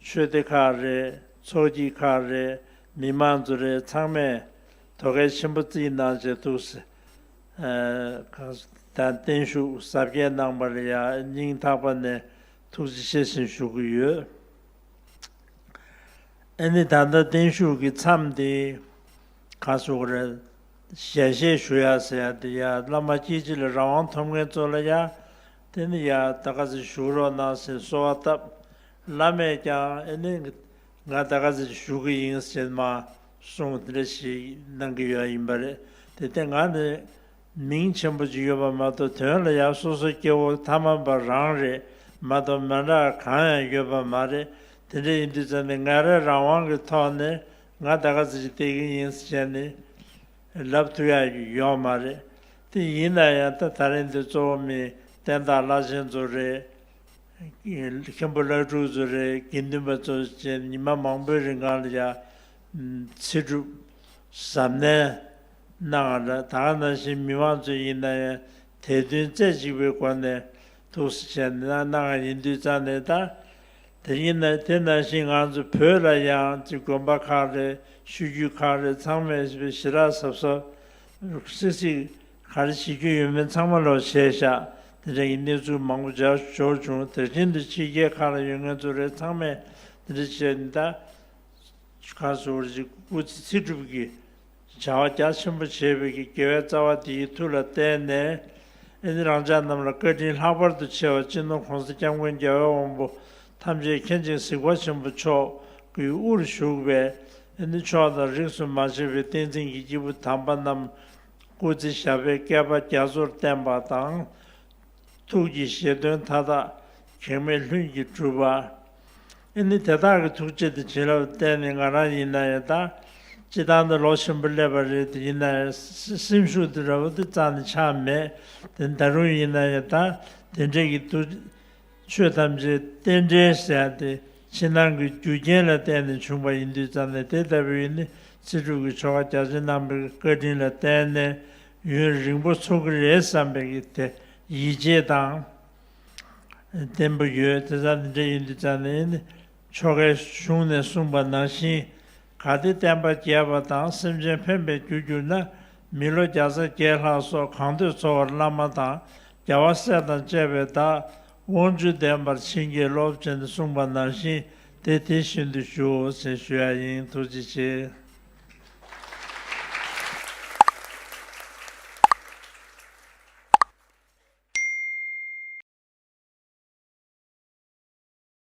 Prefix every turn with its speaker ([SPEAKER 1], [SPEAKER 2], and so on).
[SPEAKER 1] ཆོས་སྡེ་ཁག་རེད་ཚོགས་སྐྱིད་ཁག་རེད་མི་མང་ཚོ་རེད་ཚང་མས་དོ་གལ་ཆེན་པོ་རྩིས་གནང་བྱས་འདུག་ཟེར། དང་བརྟན་བཞུགས་གཟབ་རྒྱས་གནང་པར་ཡང་སྙིང་ཐག་པ་ནས་ཐུགས་རྗེ་ཆེ་ཞིང་ཞུ་གི་ཡོད། ཨེ་ནི་ད་ལྟ་བརྟན་བཞུགས་ཀྱི་མཚམས་འདི་ག་སོགས་རེད། ཞལ་བཞེས་ཞུ་ཡ་ཟེར་ཡ་འདི་ཡ་བླ་མ་སྐྱིད་ཆེ་ལ་རང་དབང་ཐོབ་མཁན་ཚོ་ལ་ཡ་དེ་ནི་ཡ་ད་ག་ཟེ་བཞུགས་རོགས་གནང་ཟེར་གསོལ་བ་བཏབ། བླ་མས་ཀྱང་ཨེ་ནི། ང་ད་ག་ཟེར་ཞུ་གི་ཡིན་ཟེར་མ་སོང་དེ་འདྲ་ཞིག་གནང་གི་ཡོད་ཡིན་པ་རེད་དེ་ལྟས་ང་ནི་མིང་ཆེན་པོ་གཅིག་ཡོད་པ་མ་གཏོགས་དོན་ལ་ཡང་སོ་སོ་སྐྱེ་བོ་ཐ་མ་པ་རང་རེད་མ་གཏོགས་མ་འདྲ་གང་ཡང་ཡོད་པ་མ་རེད་དེ་འདྲ་ཡིན་དུས་ཙམ་ནས་ངས་རང་རང་དབང་གི་ཐོག་ནས་ང་ད་ག་ཟེར་ཞིག་བལྟས་ཀྱི་ཡིན་བྱས་ནས་ལབ་ཐུབ་ཡག་ཡོད་མ་རེད་དེ་ཡིན་ན་ཡང་ད་ད་རིང་འདི་གཙོ་བོ་མིང་བསྟན་དང་བླ་ཆེན་ཚོ་རེད། མཁན་པོ་བླ་སྤྲུལ་ཚོ་རེ་དགེ་འདུན་པ་ཚོ་བཅས་ཉི་མ་མང་པོའི་རིང་གང་ལ་ཡང་ཚེ་སྒྲུབ་གཟབ་ནན་གནང་ང་ད་ག་ནང་བཞིན་མི་མང་ཚོས་ཡིན་ན་ཡང་དད་འདུན་རྩེ་གཅིག་པའི་སྒོ་ནས་ཐུགས་སུ་བྱས་ནས་གནང་ང་ཡིན་དུས་རྩ་ནས་ད་དེ་ཡིན་ན་དེ་ནང་བཞིན་ང་ཚོ་བོད་ལ་ཡང་ཅི་དགོན་པ་ཁག་རེད་ཤུལ་རྒྱུད་ཁག་རེད་ཚང་མས་ཞི་རགས་གཟབ་གཟབ་སིག་སིག། ག་རེ་བྱེད་རྒྱུ་ཡོད་མེད་ཚང་མ་ལོག་བྱས་བཞག་དེ་འདྲ་ཡི་གནས་ཚུལ་མང་པོ་སྦྱར་ཞོར་བྱུང་དེར་ཁྱེད་འདི་ཕྱི་རྒྱལ་གང་ལ་ཡོད་ངལ་རྩོལ་རེད་ཚང་མས་འདི་འདྲ་བྱས་འདི་འདྲ་ག་ཟེར་བར་ཅིག་སྐུ་ཚེ་ཚིག་སྒྲུབ་ཀྱི་བྱ་བ་རྒྱ་ཆེན་པོ་བྱས་པའི་ཀྱི་དགེ་བའི་རྩ་བ་འདི་ཡི་ཐུགས་ལ་གཏད་ནས་ཨེ་ནི་རང་ཅག་རྣམས་ལ་བཀའ་དྲིན་ལྷག་པར་དུ་ཆེ་བ་སྤྱི་ནོར་གོང་ས་སྐྱབས་མགོན་རྒྱལ་བའི་དབང་པོ་ཐམས་ཅད་མཁྱེན་ཅིང་གཟིགས་པ་ཆེན་པོ་མཆོག་གི་དབུར་བཞུགས་པའི་ཨེ་ནི་མཆོག་དང་རིགས་སུ་མ་ཆད་པའི་བསྟན་འཛིན་གྱི་སྐྱེས་བུ་དམ་པ་རྣམས་སྐུ་ཚེ་ཞབས་པའི་བསྐལ་པ་རྒྱ་མཚོར་བརྟན་པ་དང། ཐུགས་ཀྱི་བཞེད་དོན་མཐའ་དག་གེགས་མེད་ལྷུན་གྱིས་གྲུབ་པ། ཨེ་ནི་དེ་དག་གི་ཐུགས་རྗེ་དང་བྱིན་རླབས་བརྟེན་ནས་ང་རང་ཡིན་ན་ཡང་ད་ཅི་ཐང་དུ་ལོག་བཞིན་པ་སླེབས་པ་རེད་དེ་ཡིན་ན་ཡང་སེམས་ཤུགས་དེ་རབ་ཏུ་གཙང་ནས་ཆགས་མེད་དེ་ད་རུང་ཡིན་ན་ཡང་ད་དེ་འདྲས་ཀྱི་འདུག་ཆོས་ཐམས་ཅད་རྟེན་འབྲེལ་བསལ་ཏེ་ཕྱི་ནང་གི་རྒྱུ་རྐྱེན་ལ་བརྟེན་ནས་བྱུང་བ་ཡིན་དུས་ཙམ་ལས་དེ་ལྟ་བུའི་ནི་ཚེ་སྒྲུབ་ཀྱི་ཆོ་ག་རྒྱ་ཆེན་རྣམ་པར་གྱི་བཀའ་དྲིན་ལ་བརྟེན་ནས་ཡུན་རིང་པོ་འཚོ་གི་རེད་བསམ་པའི་གི་དེ་ཡིད་ཆེས་དང། བདེན་པོ་ཡོད་དེ་ཙམ་ནས་འབྲེལ་ཡིན་དུས་ཙམ་ལས་ནི་ཆོ་གའི་གཞུང་ནས་གསུངས་པ་ནང་བཞིན་ག་དེ་བསྟན་པ་རྒྱས་པ་དང་སེམས་ཅན་ཕན་པའི་རྒྱུ་གྱུར་ན་མི་ལོ་བརྒྱ་རྩ་བརྒྱད་ལྷག་སོགས་གང་འདོད་འཚོ་བར་བླ་མ་དང་རྒྱལ་བ་སྲས་དང་བཅས་པའི་བདག། དབང་བཅུ་ལྡན་པར་བྱིན་གྱིས་རློབས། ཅེས་གསུངས་པ་ནང་བཞིན་དེ་དེ་བཞིན་དུ་ཞུ། ཅེས་ཞུ་ཡ་ཡིན་ཐུགས་རྗེ་ཆེ།